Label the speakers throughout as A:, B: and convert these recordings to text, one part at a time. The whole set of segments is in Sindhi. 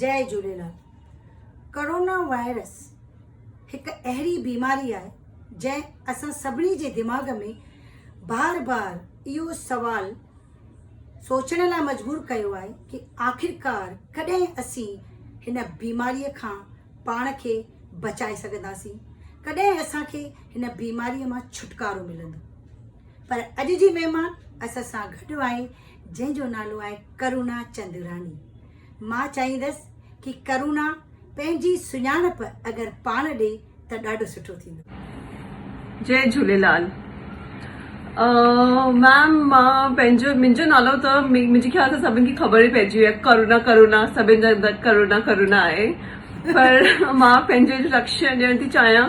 A: جئي جهوليلال ڪرونا وائرس هڪ اهڙي بيماري آهي جنهن اسان سڀني جي دماغ ۾ بار بار اهو سوال سوچڻ لاء مجبور ڪيو آهي ڪي آخرڪار ڪڏهن اسين هن بيماري کان پاڻ کي بچائي سگهنداسين ڪڏهن اسان کي هن بيماري مان ڇوٽڪارو ملندو پر اڄ جي مهمان اسان سان گڏ آهي جنهن جو نالو آهي ڪرونا چندراني مان چاهيندس ڪي ڪرونا پنهنجي سڃاڻپ اگر پاڻ ڏي ته ڏاڍو سٺو ٿيندو. جي جهوليلال
B: ميم مان پنهنجو منهنجو نالو ته منهنجي خيال سان سڀن کي خبر ئي پئجي وئي آهي ڪرونا ڪرونا سڀن جا ڪرونا ڪرونا آهي پر مان پنهنجو انٽروڊڪشن ڏيڻ ٿي چاهيان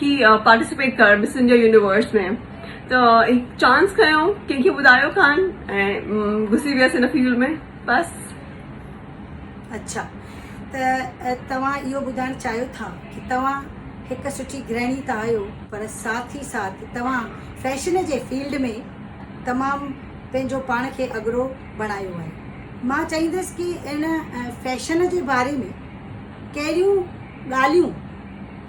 B: ڪي پارٽيسپيٽ ڪر مس انڊيا يونيورس ۾ ته چانس کنيو ڪنهن کي ٻڌايو کان ۽ گھسي ويس هن فيلڊ ۾ بس.
A: اڇا ته توهان اهو ٻڌائڻ چاهيو ٿا ڪي توهان هڪ سٺي گرهڻي ته آهيو پر ساٿ ئي ساٿ توهان فيشن جي فيلڊ ۾ تمام پنهنجو پاڻ کي اڳرو بڻايو آهي مان چاهيندس ڪي ان فيشن جي باري ۾ ڪهڙيون ڳالهيون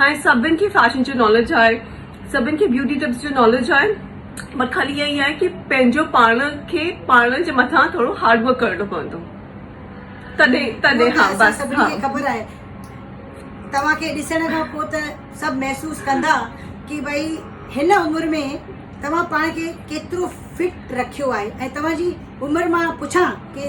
B: هاڻي سڀن کي فيشن جو ناليج آهي سڀن کي بيوٽي ٽپس جو ناليج آهي پر خالي اها ئي آهي ڪي پنهنجو پاڻ کي پاڻ جي مٿان ٿورو هارڊ ورڪ ڪرڻو پوندو تڏهن تڏهن ها بس سڀن کي خبر آهي
A: توهان کي ڏسڻ کان پوء ته سڀ محسوس ڪندا ڪي ڀئي هن عمر ۾ توهان پاڻ کي ڪيترو فٽ رکيو آهي ۽ توهان جي عمر مان پڇان ڪي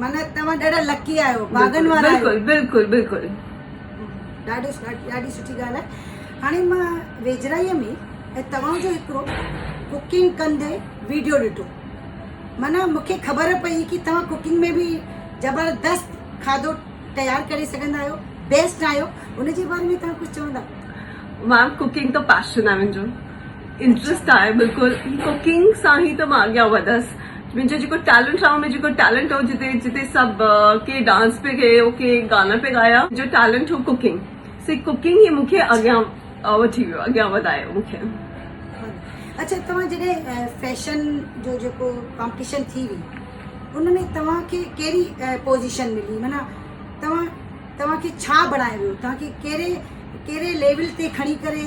A: معنيٰ توهان ڏاڍا لڪي آهيو ڀاڳن وارا آهيو بلڪل بلڪل بلڪل ڏاڍو ڏاڍي سٺي ڳالهه آهي هاڻي مان ويجهڙائيء ۾ ۽ توهان جو هڪڙو ڪوڪنگ ڪندي ويڊيو ڏٺو معنيٰ مونکي خبر پئي ڪي توهان ڪوڪنگ ۾ به زبردست کاڌو تيار ڪري سگهندا آهيو بيسٽ آهيو ان
B: جي باري
A: ۾ توهان
B: ڪجهه
A: چوندا مان
B: ڪوڪنگ
A: ته
B: پاشن
A: آهي منهنجو
B: انٽرسٽ آهي بلڪل ڪوڪنگ سان هي ته مان اڳيان وڌس منهنجو جيڪو ٽيلنٽ آهي ۾ جيڪو ٽيلنٽ هو جتي جتي سڀ ڪي ڊانس پي ڪي او ڪي گانا پي ڳايا جو ٽيلنٽ هو ڪوڪنگ سي ڪوڪنگ هي مونکي اڳيان وٺي ويو اڳيان وڌايو مونکي
A: اچھا توهان جڏهن فيشن جو جيڪو ڪمپٽيشن ٿي وي ان ۾ توهان کي ڪهڙي پوزيشن ملي معنی توهان توهان کي ڇا بڻايو ويو توهان کي ڪهڙي ڪهڙي ليول تي کڻي ڪري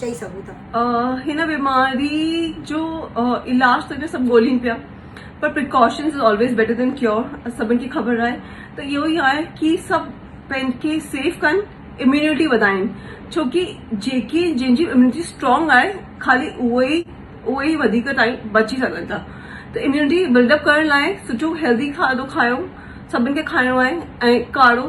A: چئي سگهون ٿا. هن بيماري
B: جو علاج ته سڀ ڳولين پيا پر precautions is always better than cure سڀن کي خبر آهي ته اهو ئي آهي ڪي سڀ پنهنج کي سيف ڪن اميونٽي وڌائن ڇوڪي جيڪي جن جي اميونٽي اسٽرانگ آهي خالي اهي ئي اهي ئي وڌيڪ ٽائم بچي سگهن ٿا ته اميونٽي بلڊ اپ ڪرڻ لاء سٺو هيلدي کاڌو کايو سڀن کي کائڻو آهي ۽ ڪاڙو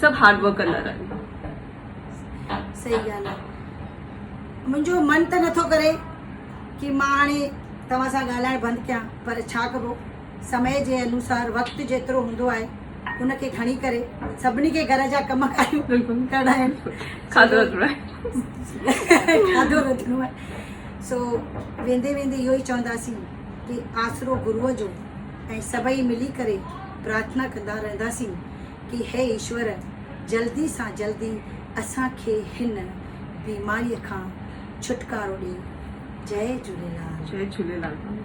B: سڀ هارڊ ورڪ ڪندڙ
A: آهن. صحيح ڳالهه آهي منهنجو من ته نٿو ڪري ڪي مان هاڻي توهان سان ڳالهائڻ بند ڪيان پر ڇا ڪبو سمي جي انوسار وقت جيترو هوندو آهي ان کي کڻي ڪري سڀني کي گهر جا ڪم ڪاريون ڪرڻا آهن
B: کاڌو
A: رڌڻو آهي سو ويندي ويندي اهو ئي چونداسين ڪي آسرو گروء جو ۽ سڀئي ملي ڪري پرارٿنا ڪندا رهنداسين ڪي هي ايشور جلدي سان جلدي اسان کي هن بيماري کان
B: ڇوٽڪارو
A: ڏي جئي جهوليلال.
B: جئي
A: جهوليلال ڀائيو.